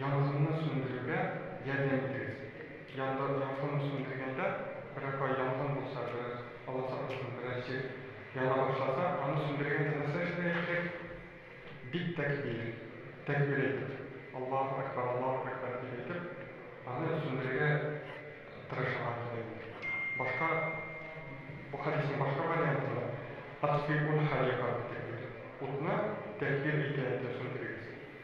Янгынны сүндерүгә ярдәм итегез. Янгын сүндергәндә, берапай янгын булса, бераз аласа булсын, бераз җир яна башласа, аны сүндергәндә нәрсә эшләргә кирәк? Бит тәкбир, тәкбир әйтеп, Аллаһу әкбар, Аллаһу әкбар дип әйтеп, аны сүндерергә тырышырга кирәк. Башка, бу хәдиснең башка вариантында, Атфиуль харика бит тәкбир, утны тәкбир әйтә-әйтә сүндерегез.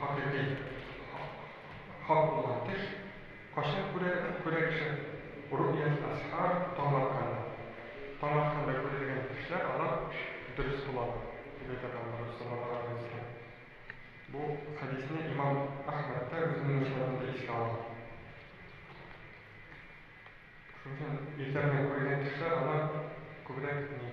Хакыйкый хак булган төш кайчан күрә, күрә кеше? Ру'ят әсхар, таң атканда. Таң атканда күрелгән төшләр, алар дөрес буладыр, дип әйтә торган Расулла галәйһиссәлам. Бу хәдисне имам Әхмәд тә үзенең мөсәннәфендә искә ала. Шуның өчен иртә белән күрелгән төшләр, алар күбрәк ни?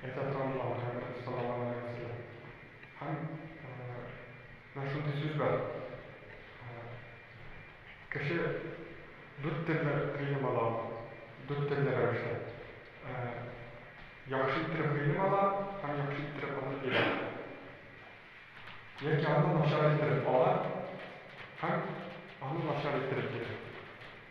Это тоннар һәм осталарга мәсьәлә. Һәм менә шундый сүз бар. Кеше дүрт төрле гыйлем ала, дүрт төрле рәвештә. Яхшы иттереп гыйлем ала һәм яхшы иттереп аны бирә. Яки аны начар иттереп ала һәм аны начар иттереп бирә.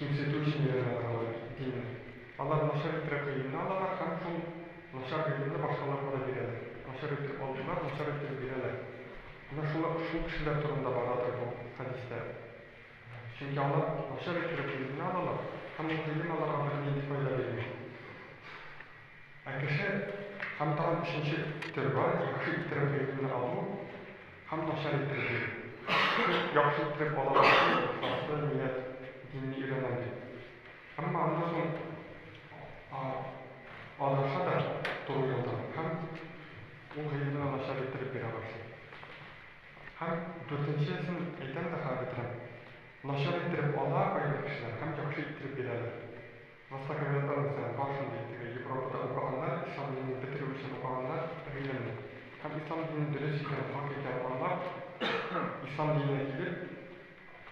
кимсетүчеләр алар, димме? Алар начар иттереп гыйлемне алалар һәм шул начар гыйлемне башкаларга да бирәләр. Начар иттереп алдылар, начар иттереп бирәләр. Менә шул шул кешеләр турында барадыр бу хәдистә. Чөнки алар начар иттереп гыйлемне алалар һәм ул гыйлем аларга бернинди файда бирми. Ә кеше һәм тагын өченче төр бар, яхшы иттереп гыйлемне алу, Һәм начар иттерде. Кыз яхшы иттереп ала башлый, ихласлы ният, динне өйрәнәм дип. Әмма аннан соң адаша да туры юлдан һәм ул гыйлемне дә начар иттереп бирә башлый. Һәм дүртенчесен әйтәм дә хәл ителәм, начар иттереп ала кайбер кешеләр һәм яхшы иттереп бирәләр. Массакүләм үлчәм, бар шундый, теге Европада укыганнар, ислам динен бетерү өчен укыганнар, гыйлемне. Һәм ислам динен дөрес икән, хак икән аңлап, ислам диненә килеп,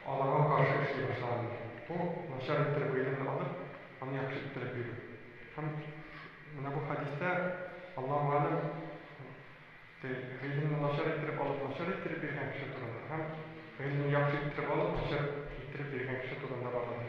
аларга каршы эшли башлаган. Бу, начар иттереп гыйлемне алып, аны яхшы иттереп бирү. Һәм менә бу хәдистә, Аллаһу әләм, теге гыйлемне начар иттереп алып, начар иттереп биргән кеше турында һәм гыйлемне яхшы иттереп алып, начар иттереп биргән кеше турында барадыр.